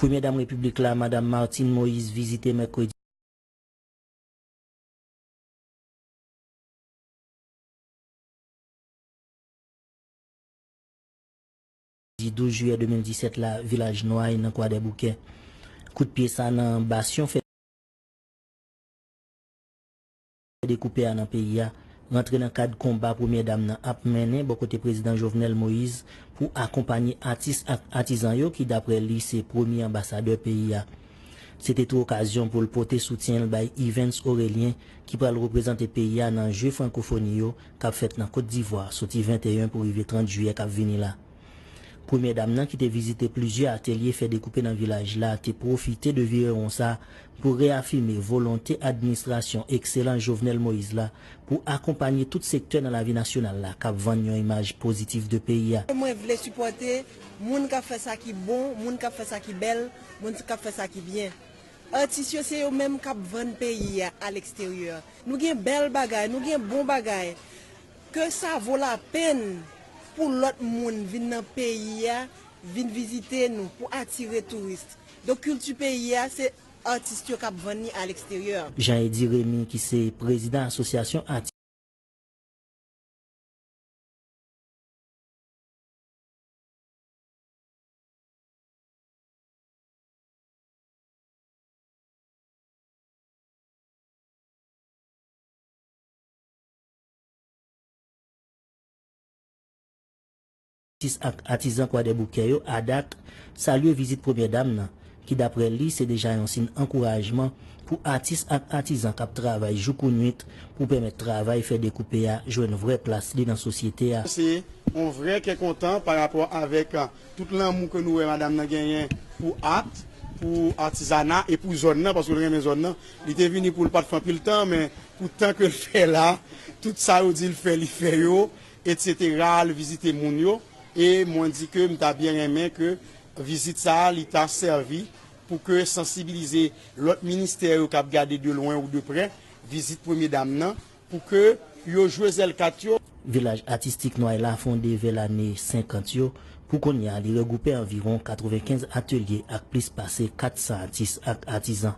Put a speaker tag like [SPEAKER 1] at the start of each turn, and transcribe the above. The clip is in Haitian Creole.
[SPEAKER 1] Premyè Dam Repiblik la, Madam Martine Moïse vizite Mèkredi. Di 12 jiyè 2017 la, Vilaj Nway nan Kwadèboukè. Kout pye sa nan Basyon fè. dekoupe a nan peyi a, rantre nan kad konba Premyè Dam nan ap mennen bò kote Prezidan Jovenel Moise pou akonpanye atis ak atizan yo ki daprè li se premye anbasadè peyi a. Se te tou okazyon pou l pote soutyen l bay Yvens Orélien ki pral reprezante peyi a nan je frankofoni yo k ap fèt nan Kot Divwa soti 21 pou rive 30 jiyè k ap vini la. Premyè dam nan ki te vizite plizyè atelye fè dekoupe nan vilaj la te pwofite de virewon sa pou reyafime volonte administrasyon ekselan Jovenel Moïse la pou akonpanye tout sektè nan lavi nasyonal la k ap vann yon imaj pozitif de peyi a. Mwen vle sipòte
[SPEAKER 2] moun k ap fè sa ki bon, moun k ap fè sa ki bèl, moun k ap fè sa ki byen. Atis yo se yo menm k ap vann peyi a aleksteryè. Nou gen bèl bagay, nou gen bon bagay. Ke sa vo la penn pou lòt moun vin nan peyi a vin vizite nou pou atire touris. Donk kilti peyi a se atis yo k ap vann li aleksteryè. Jean Eddy Remy
[SPEAKER 1] ki se prezidan asosyasyon atis. Atis ak atizan Kwadèboukè yo, ADAC, salye vizit Premyè Dam nan, ki daprè li se deja yon sin ankourajman pou atis ak atizan k ap travay jou kou nuit pou pèmèt travay fè dekoupe a jwenn vrè plas li nan sosyete a. Se yon
[SPEAKER 3] vrè kè kontan pa rapò avèk tout lanmou ke nou wè Madam nan genyen pou at, pou atizana e pou zòn nan, paske l renmen zòn nan. Li te vini pou l pa t fè anpil tan, men Pou tan ke l fè la, tout sa yo di l fè, li fè yo, etc. Al vizite moun yo. E mwen di ke m ta byen renmen ke vizit sa a, li ta sèvi pou ke sansibilize lòt ministè yo k ap gade de lwen ou de prè vizit premye dam nan, pou ke yo jwe zèl kat yo. Vilaj Atistik
[SPEAKER 1] Nway la fonde vè lane 50 yo. Pou kounye a, li regwoupe anviwon 95 atelye ak plis pase 400 atis ak atizan.